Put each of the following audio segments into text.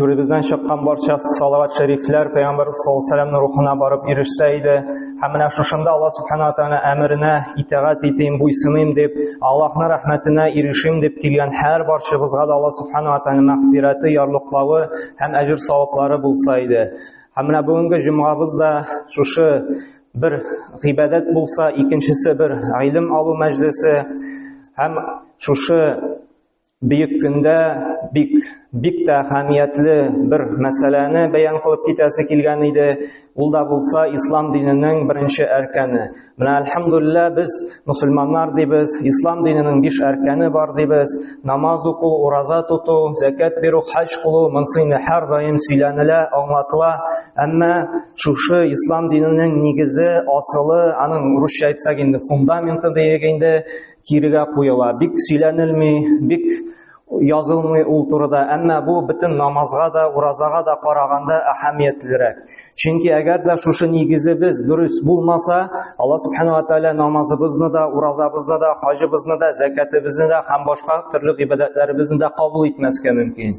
Түребездән чыккан барча салават шәрифләр пәйгамбәр саллаллаһу рухына барып ирешсә иде. Һәм менә шушында Аллаһ субхана тәгалә әмеренә итагать итим, буйсыным дип, Аллаһның рәхмәтенә ирешим дип килгән һәр барчыбызга да Аллаһ субхана тәгалә мәгъфирәте, ярлыклавы һәм әҗр саваплары булса иде. Һәм менә бүгенге җомгабыз да шушы бер гыйбадәт булса, икенчесе бер гыйлем алу мәҗлесе һәм шушы Бөек көндә бик бик тә әһәмиятле бер мәсьәләне бәян кылып китәсе килгән иде. Ул да булса ислам диненең беренче әркәне. Менә альхамдулилла без мусульманнар дибез, ислам диненең биш әркәне бар дибез. Намаз уку, ураза тоту, закат бирү, хаҗ кылу, монсыны һәр даим сөйләнелә, аңлатыла. Әмма шушы ислам диненең нигезе, асылы, аның русча әйтсәк инде фундаменты диек инде, кирегә куела. Бик сөйләнелми, бик язылмый ул турыда. Әмма бу бөтен намазга да, уразага да караганда әһәмиятлерәк. Чөнки әгәр дә шушы нигезебез дөрес булмаса, Алла субхана ва тааля намазыбызны да, уразабызны да, хаҗыбызны да, закатыбызны да һәм башка төрле гыйбадәтләребезне дә кабул итмәскә мөмкин.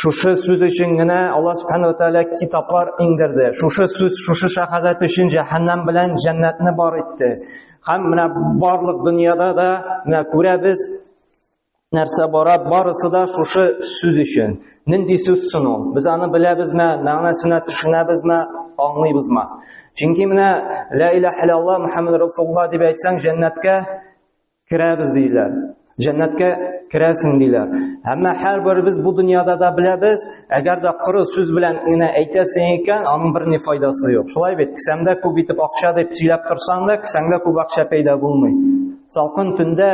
Шушы сүз өчен генә Аллаһ Субхану Тәгалә китаплар иңдерде. Шушы сүз, шушы шәһадәт өчен җәһәннәм белән җәннәтне бар итте. Һәм менә барлык дөньяда да менә күрәбез, нәрсә бара, барысы да шушы сүз өчен. Нинди сүз соң ул? Без аны беләбезме, мәгънәсенә төшенәбезме, аңлыйбызмы? Чөнки менә ла илаһ иллаллаһ Мухаммад Расулуллаһ дип әйтсәң, җәннәткә Керәбез диләр. Җәннәткә керәсең диләр. Әмма һәрберебез бу дөньяда да беләбез, әгәр дә коры сүз белән генә әйтәсең икән, аның бер ни файдасы юк. Шулай бит, кесәмдә күп итеп акча дип сөйләп торсаң да, кесәңдә күп акча пәйда булмый. Салкын төндә,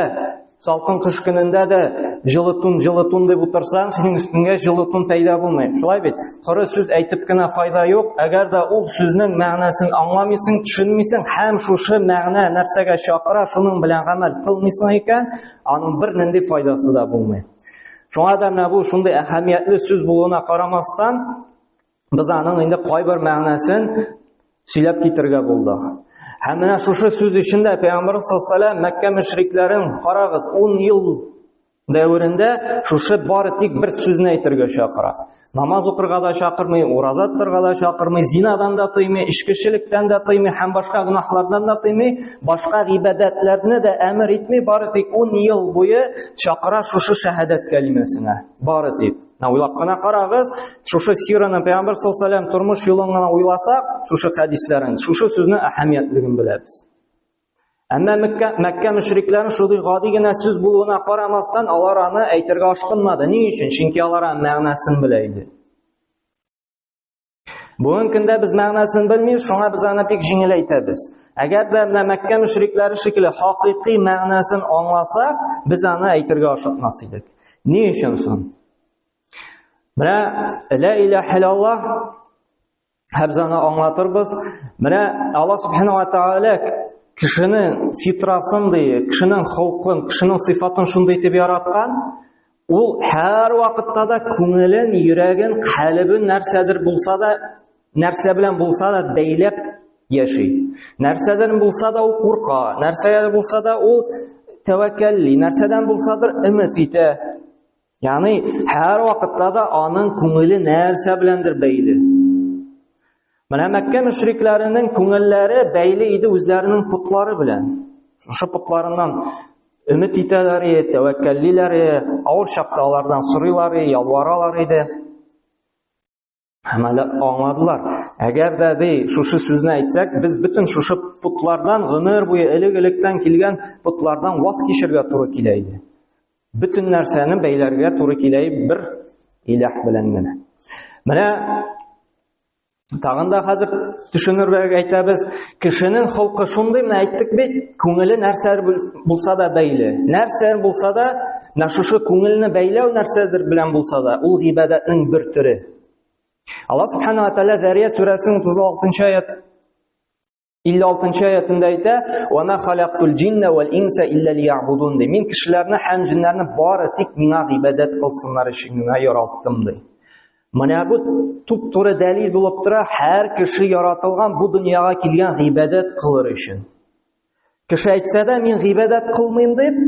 салкын кыш көнендә дә җылы тун, җылы тун дип утырсаң, синең өстеңә җылы тун пәйда булмый. Шулай бит? Коры сүз әйтеп кенә файда юк, әгәр дә ул сүзнең мәгънәсен аңламыйсың, төшенмисең һәм шушы мәгънә нәрсәгә чакыра, шуның белән гамәл кылмыйсың икән, аның бер нинди файдасы да булмый. Шуңа да менә бу шундый әһәмиятле сүз булуына карамастан, без аның инде кайбер мәгънәсен сөйләп китергә булдык. Һәм менә шушы сүз эчендә Пәйгамбәрбез саллаллаһу алейһи ва саллям Мәккә мөшрикләрен карагыз, 10 ел дәверендә шушы бары тик бер сүзне әйтергә чакыра. Намаз укырга да чакырмый, ураза тотарга да чакырмый, зинадан да тыймый, эчкечелектән дә тыймый һәм башка гөнаһлардан да тыймый, башка гыйбадәтләрне дә әмер итми, бары тик 10 ел буе чакыра шушы шәһадәт кәлимәсенә. Бары тик. Менә уйлап кына карагыз, шушы сираны Пәйгамбер саллаллаһу алейһи тормыш юлын гына уйласак, шушы хәдисләрен, шушы сүзне әһәмиятлеген беләбез. Әмма Мәккә, Мәккә мөшрикләрен шундый гади генә сүз булуына карамастан, алар аны әйтергә ашкынмады. Ни өчен? Чөнки алар мәгънәсен белә иде. Бүгенге көндә без мәгънәсен белмибез, шуңа без аны бик җиңел әйтәбез. Әгәр дә менә Мәккә мөшрикләре шикелле хакыйкый мәгънәсен аңласа, без аны әйтергә ашыкмас идек. Ни өчен соң? Менә ла иляха илаллаһ Хәбзаны аңлатырбыз. Менә Алла Субхану ва Тааля кешенең фитрасын ди, кешенең холкын, кешенең сыйфатын шундый итеп яраткан, ул һәр вакытта да күңелен, йөрәген, калыбын нәрсәдер булса да, нәрсә белән булса да бәйләп яши. Нәрсәдән булса да ул курка, нәрсәдән булса да ул тәвәккәлли, нәрсәдән булсадыр өмет итә. Яни һәр вакытта да аның күңеле нәрсә беләндер бәйле. Менә Мәккә мөшрикләренең күңелләре бәйле иде үзләренең путлары белән. Шушы путларыннан өмет итәләр иде, тәвәккәллиләр иде, авыр чакта алардан сорыйлар иде, ялваралар иде. Һәм әле аңладылар. Әгәр дә ди, шушы сүзне әйтсәк, без бөтен шушы потлардан гомер буе элек-электән килгән потлардан ваз кичергә туры килә иде. Бөтен нәрсәне бәйләргә туры килә бер иләх белән генә. Менә тагын да хәзер төшенергә әйтәбез, Кешенең холкы шундый менә әйттек бит, күңеле нәрсә булса да бәйле. Нәрсә булса да, менә шушы күңелне бәйләү нәрсәдер белән булса да, ул гыйбадәтнең бер төре. Алла субхана ва тааля Зария сүрәсенең 36-нчы аят 56-нчы аятында әйтә: "Ва ма халактул джинна вал инса илля лиябудун" ди. Мин кешеләрне һәм җиннәрне бары тик миңа гыйбадәт кылсыннар өчен генә яраттым ди. Менә бу туп-туры дәлил булып тора, һәр кеше яратылган бу дөньяга килгән гыйбадәт кылыр өчен. Кеше әйтсә дә, мин гыйбадәт кылмыйм дип,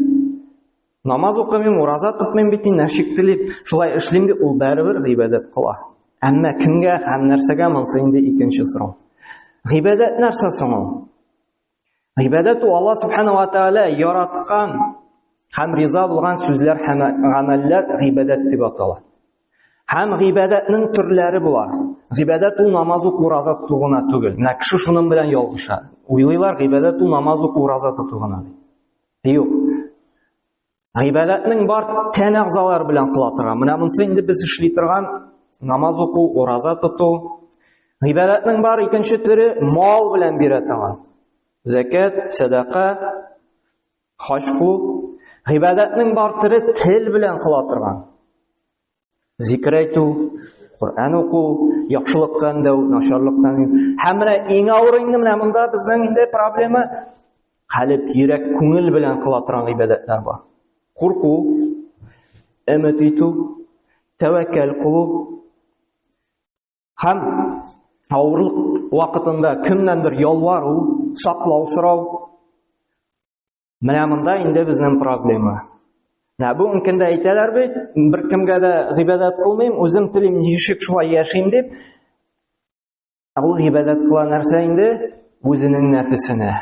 намаз укымыйм, ураза тотмыйм бит, инде нәшик телип, шулай эшлим дип, ул бәрибер гыйбадәт кыла. Әмма кемгә һәм нәрсәгә монсы инде икенче сорау. Гыйбадәт нәрсә соң ул? Гыйбадәт ул Алла субханаһу ва тааля яраткан һәм риза булган сүзләр һәм гамәлләр гыйбадәт дип атала. Һәм гыйбадәтнең төрләре була. Гыйбадәт ул намаз уку, ураза тоту гына түгел. Менә кеше шуның белән ялгыша. Уйлыйлар, гыйбадәт ул намаз уку, ураза тоту гына. Юк. Гыйбадәтнең бар тән әгъзалары белән кыла торган. Менә монсы инде без эшли торган намаз уку, ураза тоту. Гыйбадәтнең бар икенче төре мал белән бирә торган. Закат, садака, хаҗ кылу. Гыйбадәтнең бар төре тел белән кыла торган. Зикр әйтү, Коръән уку, яхшылыктан дәү, начарлыктан. Һәм менә иң авыр инде менә монда безнең инде проблема хәлеп йөрәк күңел белән кыла торган гыйбадәтләр бар. Курку, өмет итү, тәвәккәл кылу һәм авырлык вакытында кемнәндер ялвару, саклау сорау. Менә монда инде безнең проблема. Менә бу өлкәндә әйтәләр бит, бер кемгә дә гыйбадәт кылмыйм, үзем телим, ничек шулай яшим дип. Ә ул гыйбадәт кыла нәрсә инде? Үзенең нәфесенә.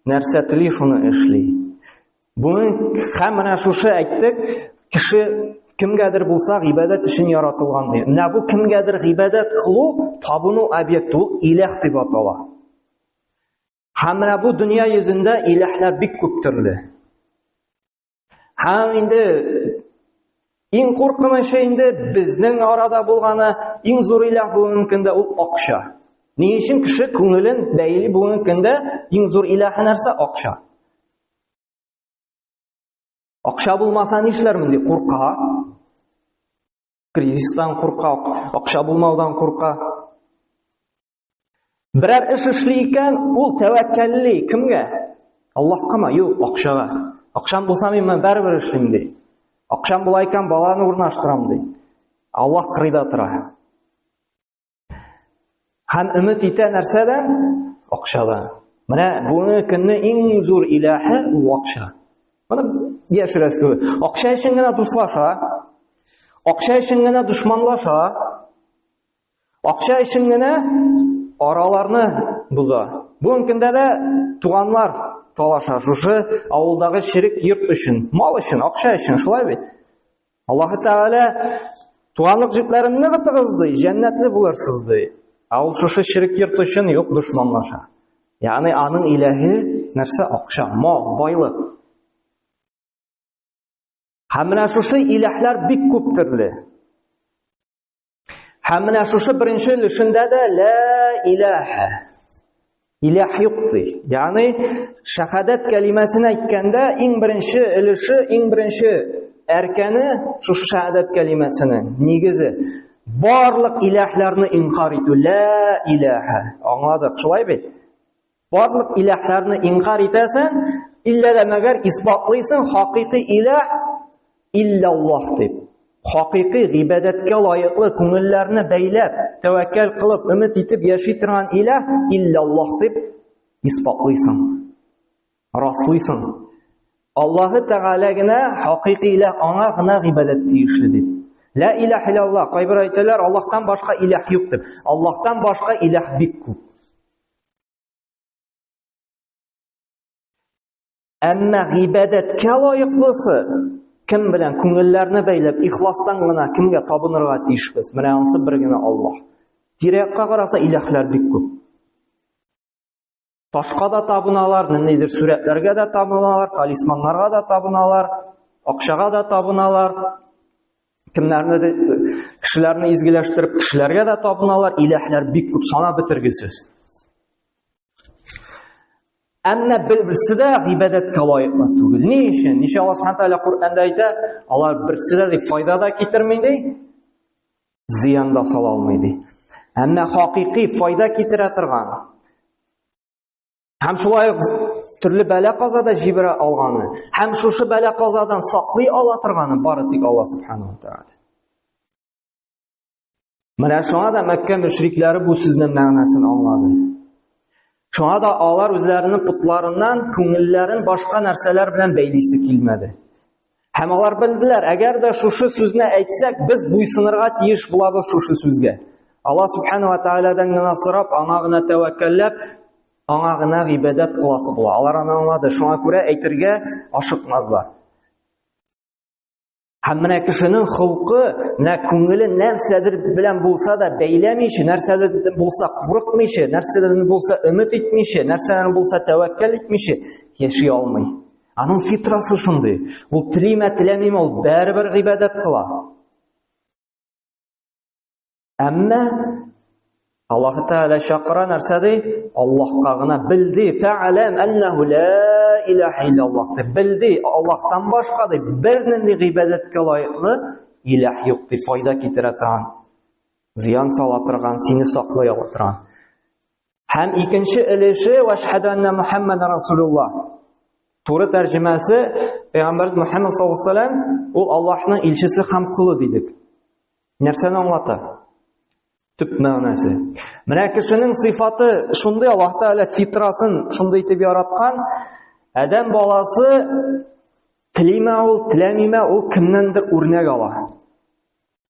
Нәрсә тели, шуны эшли. Буны һәм менә шушы әйттек, кеше кемгәдер булса гыйбадәт өчен яратылган ди. Менә бу кемгәдер гыйбадәт кылу табыну объекты, ул иләх дип атала. Һәм менә бу дөнья йөзендә иләһләр бик күп төрле. Һәм инде иң куркынычы инде безнең арада булганы, иң зур иләһ бүгенге көндә ул акча. Ни өчен кеше күңелен бәйли бүгенге көндә иң зур иләһе нәрсә? Акча. Акча булмаса нишләр монди курка? Кризистан курка, акча булмаудан курка. Берәр эш эшли икән, ул тәвәккәлли кемгә? Аллаһкамы? Юк, акчага. Акчам булса мин моны бәрбер эшлим ди. Акчам була икән, баланы урнаштырам ди. Аллаһ кырыйда тора. Һәм өмет итә нәрсәдән? Акчадан. Менә бүгенге көнне иң зур иләһе ул акча. Моны яшерәсе түгел. Акча өчен генә дуслаша, акча өчен генә дошманлаша, Акча өчен генә араларны боза. Бүгенге көндә дә туганнар талаша шушы авылдагы ширек йорт өчен, мал өчен, акча өчен, шулай бит. Аллаһ Тәгалә туганлык җепләрен ныгытыгыз ди, җәннәтле булырсыз ди. Ә ул шушы ширек йорт өчен юк дошманлаша. Ягъни аның иләһе нәрсә? Акча, мал, байлык. Һәм менә шушы иләһләр бик күп төрле. Һәм менә шушы беренче өлешендә дә лә иләһә. Иләһ юк ди. Ягъни шахадат кәлимәсен әйткәндә иң беренче өлеше, иң беренче әркәне шушы шахадат кәлимәсенең нигезе. Барлык иләһләрне инкар итү лә иләһә. Аңладык, шулай бит? Барлык иләһләрне инкар итәсен, иллә дә мәгәр исбатлыйсын хакыйкый иләһ иллә Аллаһ дип. Хакыйкый гыйбадәткә лаеклы күңелләрне бәйләп, тәвәккәл кылып, өмет итеп яши торган иләһ иллә Аллаһ дип исбатлыйсын. Раслыйсын. Аллаһы Тәгалә генә хакыйкый иләһ аңа гына гыйбадәт тиешле дип. Ла иләһ иллә Аллаһ. Кайбер әйтәләр, Аллаһтан башка иләһ юк дип. Аллаһтан башка иләһ бик күп. Әмма гыйбадәткә лаеклысы кем белән күңелләрне бәйләп, ихластан гына кемгә табынырга тиешбез? Менә анысы бер генә Аллаһ. Тирәккә караса иләхләр бик күп. Ташка да табыналар, ниндидер сурәтләргә дә табыналар, талисманнарга да табыналар, акчага да табыналар. кемнәрне дә кешеләрне изгеләштереп кешеләргә дә табыналар иләһләр бик күп санап бетергесез әмма берсе дә гыйбадәткә лаеклы түгел ни өчен ничә алла субхан тәғәлә коръәнда әйтә алар берсе дә ди файда да китерми ди зыян да сала алмый ди әмма хакыйкый файда китерә торган Һәм шулай төрле бәлә каза да җибәрә алганы, һәм шушы бәлә казадан саклый ала торганы бары тик Алла субханаһу тааля. Менә шуңа да Мәккә мөшрикләре бу сүзнең мәгънәсен аңлады. Шуңа да алар үзләренең путларыннан күңелләрен башка нәрсәләр белән бәйлисе килмәде. Һәм алар белделәр, әгәр дә шушы сүзне әйтсәк, без буйсынырга тиеш булабыз шушы сүзгә. Алла субхана ва таалядан гына сорап, аңа гына тәвәккәлләп, аңа гына гыйбадәт кыласы була. Алар аны аңлады, шуңа күрә әйтергә ашыкмадылар. Һәм менә кешенең холкы, менә күңеле нәрсәдер белән булса да бәйләмичә, нәрсәдер булса курыкмыйча, нәрсәдер булса өмет итмичә, нәрсәдер булса тәвәккәл итмичә яши алмый. Аның фитрасы шундый. Ул телиме, теләмиме, ул бәрібір гыйбадәт кыла. Әмма Аллаһ Тәгалә чакыра нәрсә ди? Аллаһка гына белди, фәаләм аннаху ла илаһа иллаллаһ дип белди. Аллаһтан башка дип бернинди гыйбадәткә лаеклы илаһ юк дип файда китерә торган, зыян сала торган, сине саклый ала торган. Һәм икенче өлеше вәшһәду анна Мухаммад расулулла. Туры тәрҗемәсе Пәйгамбәрбез Мухаммад саллаллаһу алейһи ва саллям ул Аллаһның илчесе һәм кулы дидек. Нәрсәне аңлата? Төп мәгънәсе. Менә кешенең сыйфаты шундый Аллаһ Тәгалә фитрасын шундый итеп яраткан. Адәм баласы телиме ул, теләмиме ул кемнәндер үрнәк ала.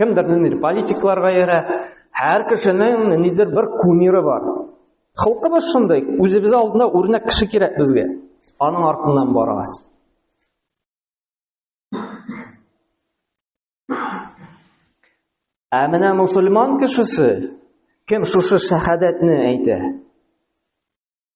Кемдер ниндидер политикларга иярә. Һәр кешенең ниндидер бер кумиры бар. Халкыбыз шундый, үзебез алдында үрнәк кеше кирәк безгә. Аның артыннан барабыз. Ә менә мусульман кешесе кем шушы шәһадәтне әйтә?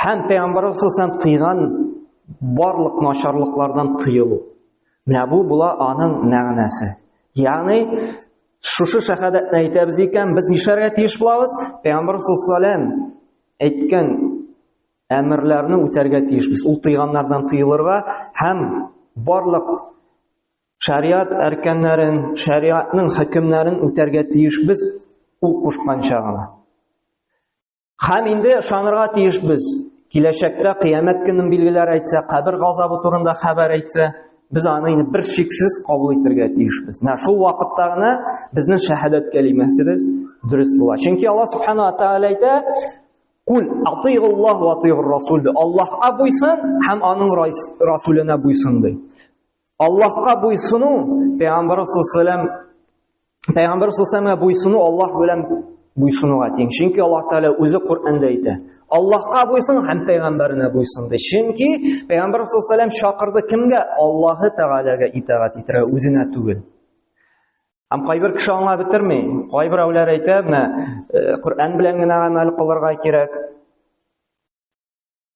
Һәм пәйгамбәрбез саллаллаһу тыйган барлык начарлыклардан тыелу. Менә бу була аның мәгънәсе. Ягъни шушы шәһадәтне әйтәбез икән, без нишләргә тиеш булабыз? Пәйгамбәр саллаллаһу әйткән әмерләрне үтәргә тиешбез. Ул тыйганнардан тыелырга һәм барлык шариат әркәннәрен, шариатның хөкемнәрен үтәргә тиешбез ул кушканча гына. Хәм инде шанырга тиеш без. Киләчәктә кыямәт көнен билгеләр әйтсә, кабер газабы турында хәбәр әйтсә, без аны инде бер шиксез кабул итәргә тиешбез. Менә шул вакытта гына безнең шәһадәт кәлимәсебез дөрес була. Чөнки Аллаһ субхана ва тааля әйтә: "Кул атыйгуллаһ ва атыйгур расул". Аллаһка буйсын һәм аның расуленә буйсын ди. Аллаһка буйсыну, пәйгамбәр саллаллаһу Пәйгамбәр саллаллаһу буйсыну Аллаһ белән буйсынуга тиң. Чөнки Аллаһ Тәгалә үзе Коръәндә әйтә. Аллаһка буйсын һәм пәйгамбәренә буйсын ди. Чөнки пәйгамбәр саллаллаһу чакырды кемгә? Аллаһы Тәгаләгә итагать итәргә, үзенә түгел. Һәм кайбер кеше аңа бетерми. Кайбер әүләр әйтә, менә э, Коръән белән генә гамәл кылырга кирәк.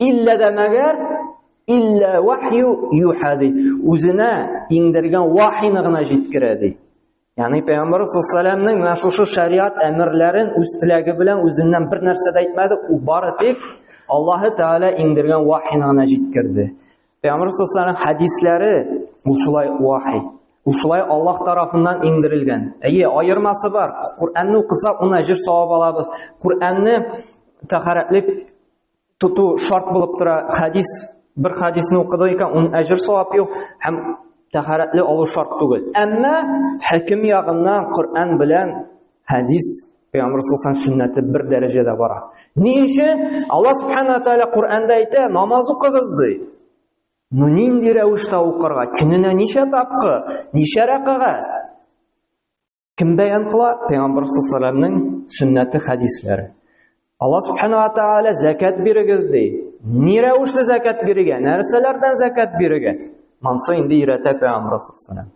Иллә дә мәгәр иллә вахю юха ди. Үзенә иңдергән вахины гына җиткерә ди. Ягъни пәйгамбәр саллаллаһу менә шушы шариат әмерләрен үз теләге белән үзеннән бер нәрсә дә әйтмәде, ул бары тик Аллаһы Тәгалә иңдергән вахины гына җиткерде. Пәйгамбәр саллаллаһу хәдисләре ул шулай вахи. Ул шулай Аллаһ тарафыннан иңдерелгән. Әйе, аермасы бар. Коръәнне укысак, уна җир савап алабыз. Коръәнне тәһарәтлек тоту шарт булып тора. Хәдис бер хәдисне укыды икән, ун әҗр савап юк һәм тәһарәтле алу шарт түгел. Әмма хәким ягыннан Коръән белән хәдис Пәйгамбер саллаллаху сөннәте бер дәрәҗәдә бара. Ни өчен? Алла субхана ва тааля Коръәндә әйтә, намаз укыгыз ди. Ну нинди рәвештә укырга? Көненә ничә тапкыр? Ничә рәкагать? Кем бәян кыла? Пәйгамбәр сәлламның сөннәте хәдисләре. Алла субхана ва тааля зәкәт бирегез ди. Ни рәвешле зәкәт бирегә? Нәрсәләрдән зәкәт бирегә? Монсы инде өйрәтә пәйгамбәр сәллам.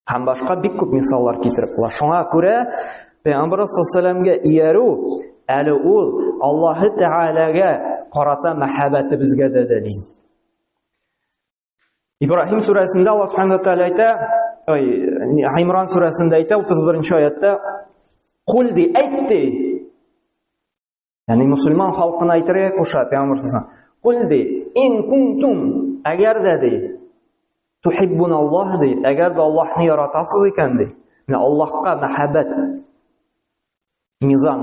Һәм башка бик күп мисаллар китереп була. Шуңа күрә пәйгамбәр сәлламгә иярү әле ул Аллаһы Тәгаләгә карата мәхәббәтебезгә дә дәлил. Ибраһим сүрәсендә Аллаһ Субхану Тәгалә әйтә, ой, Аймран сүрәсендә әйтә 31-нче аятта, "Кул ди, әйт ди". Ягъни мусульман халкына әйтергә куша Пәйгамбәр сүзен. Кул ди, ин кунтум, әгәр дә ди, тухиббун Аллаһ ди, әгәр дә Аллаһны яратасыз икән ди. Менә Аллаһка мәхәббәт. Низам.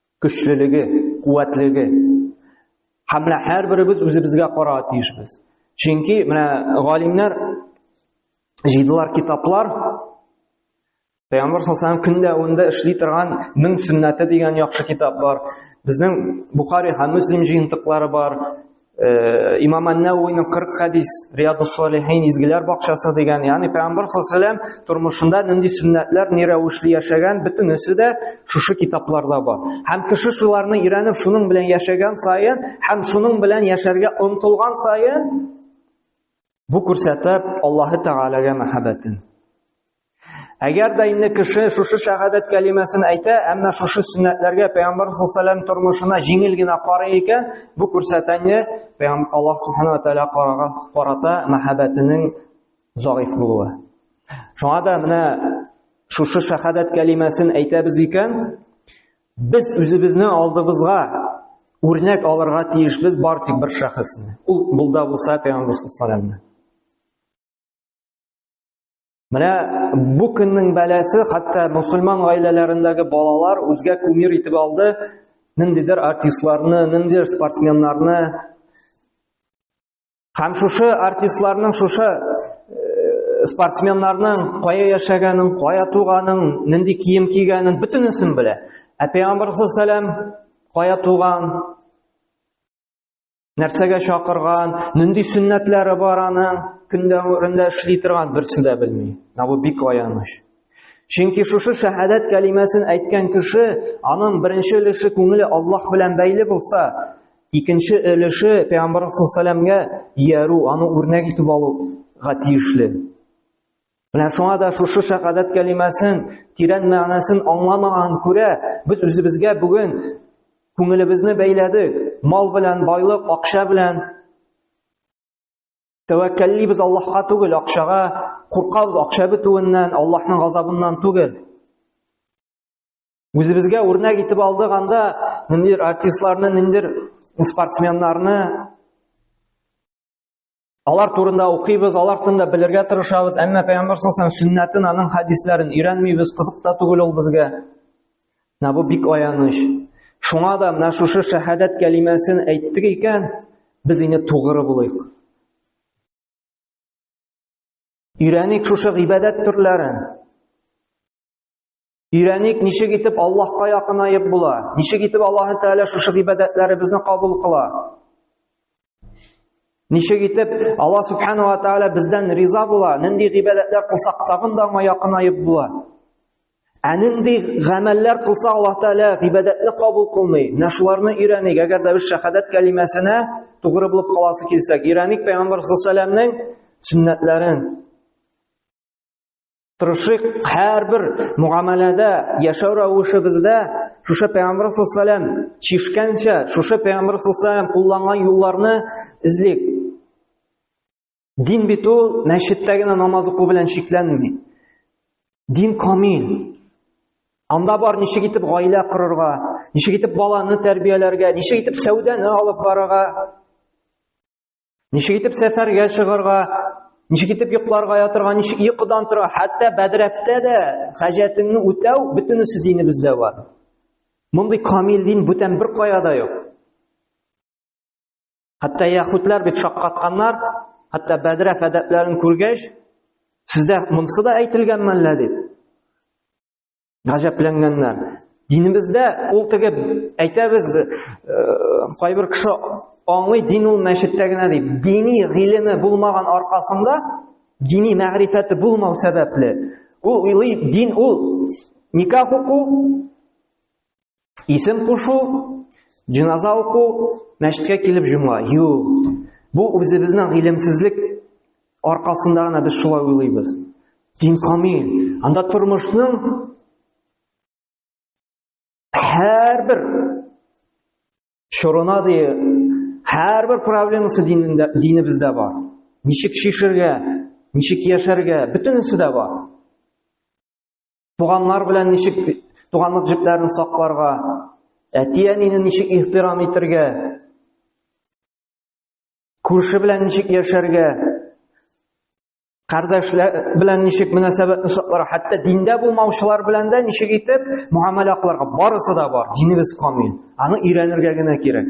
көчлелеге, куәтлеге. Һәм менә һәрберебез үзебезгә карарга тиешбез. Чөнки менә галимнәр җыйдылар китаплар, Пәйгамбер саллаллаху көн дәвамында эшли торган Мең сүннәте дигән яхшы китап бар. Безнең Бухари һәм Муслим җыентыклары бар. Э, имам Нәвиның 40 хадис, Риядус Салихин изгеләр бакчасы дигән, ягъни Пәйгамбәр саллаллам тормышында нинди сөннәтләр, ни рәвешле яшәгән, бөтенесе дә шушы китапларда бар. Һәм кеше шуларны өйрәнеп, шуның белән яшәгән саен һәм шуның белән яшәргә омтылган саен Бу күрсәтә Аллаһы Тәгаләгә мәхәббәтен. Әгәр дә инде кеше шушы шәһадәт кәлимәсен әйтә, әмма шушы сөннәтләргә Пәйгамбәр саллаллаһу тормышына җиңел генә карый икән, бу күрсәтәне Пәйгамбәр Аллаһ субхана ва тааля карага карата мәхәббәтенең заиф булуы. Шуңа да менә шушы шәһадәт кәлимәсен әйтәбез икән, Без үзебезне алдыбызга үрнәк алырга тиешбез бар тик бер шәхесне. Ул булда булса Пәйгамбәр саллаллаһу Менә бу көннең бәласе хәтта мусульман гаиләләрендәге балалар үзгә кумир итеп алды, ниндидер артистларны, ниндидер спортсменнарны. Һәм шушы артистларның, шушы э, спортсменнарның кая яшәгәнен, кая туганын, нинди кием кигәнен бөтенесен белә. Ә Пәйгамбәр саллаллаху кая туган, нәрсәгә чакырган, нинди сөннәтләре бар аның, көндә урында эшли торган берсе дә белми. Менә бу бик аяныч. Чөнки шушы шәһадәт кәлимәсен әйткән кеше, аның беренче өлеше күңеле Аллаһ белән бәйле булса, Икенче өлеше пәйгамбәр сәламгә иярү, аны үрнәк итеп алуга тиешле. Менә шуңа да шушы шәһадәт кәлимәсен тирән мәгънәсен аңламаган күрә, без үзебезгә бүген күңелебезне бәйләдек. Мал белән байлык, акча белән тәвәккәллибез Аллаһка түгел, акчага куркабыз, акча бетүеннән, Аллаһның газабыннан түгел. Үзебезгә үрнәк итеп алдык анда ниндидер артистларны, ниндидер спортсменнарны алар турында укыйбыз, алар турында белергә тырышабыз, әмма пәйгамбәр саллаллаху сөннәтен, аның хәдисләрен өйрәнмибез, кызык та түгел ул безгә. Менә бу бик аяныч. Шуңа да менә шушы шәһадәт кәлимәсен әйттек икән, без инде тугры булыйк. Өйрәник шушы гыйбадәт төрләрен. Өйрәник, ничек итеп Аллаһка якынаеп була? Ничек итеп Аллаһ Тәгалә шушы гыйбадәтләребезне кабул кыла? Ничек итеп Аллаһ Субхану ва Тәгалә бездән риза була? Нинди гыйбадәтләр кылсак тагын да аңа якынаеп була? Ә нинди гамәлләр кылса Аллаһ Тәгалә гыйбадәтне кабул кылмый? Менә шуларны өйрәник, әгәр дә без шәһадәт кәлимәсенә тугры булып каласы килсәк, өйрәник Пәйгамбер саллаллаһу алейһи ва сәлламның сүннәтләрен, Тырышыйк һәрбер муамәләдә, яшәү рәвешебездә шушы Пәйгамбәр саллаллаху чишкәнчә, шушы Пәйгамбәр саллаллаху кулланган юлларны эзлик. Дин бит ул мәчеттә генә намаз уку белән чикләнми. Дин камил. Анда бар ничек итеп гаилә корырга, ничек итеп баланы тәрбияләргә, ничек итеп сәүдәне алып барырга, Ничек итеп сәфәргә чыгарга, ничек итеп йокларга ятырга, ничек йокыдан тора, хәтта бәдрәфтә дә хаҗәтеңне үтәү бөтенесе динебездә бар. Мондый камил дин бүтән бер кая да юк. Хәтта яхутлар бит шаккатканнар, хәтта бәдрәф әдәпләрен күргәч, сездә монсы да әйтелгәнме әллә дип. гаҗәпләнгәннәр. Динебездә ул теге әйтәбез, э, кайбер кеше аңлый дин ул мәчеттә генә дип. Дини гыйлеме булмаган аркасында, дини мәгърифәте булмау сәбәпле, ул уйлый дин ул никах уку, Исем кушу, җиназа уку, мәчеткә килеп җомга. Юк. Бу үзебезнең гыйлемсезлек аркасында гына без шулай уйлыйбыз. Дин камил. Анда тормышның һәрбер чорына ди һәрбер проблемасы динендә динебездә бар. Ничек шишергә, ничек яшәргә, бөтенесе дә бар. Туганнар белән ничек туганлык җепләрен сакларга, әти-әнине ничек ихтирам итәргә, күрше белән ничек яшәргә, кардәшләр белән ничек мөнәсәбәтне сакларга, хәтта диндә булмаучылар белән дә ничек итеп муамәлә кыларга, барысы да бар. Динебез камил. Аны өйрәнергә генә кирәк.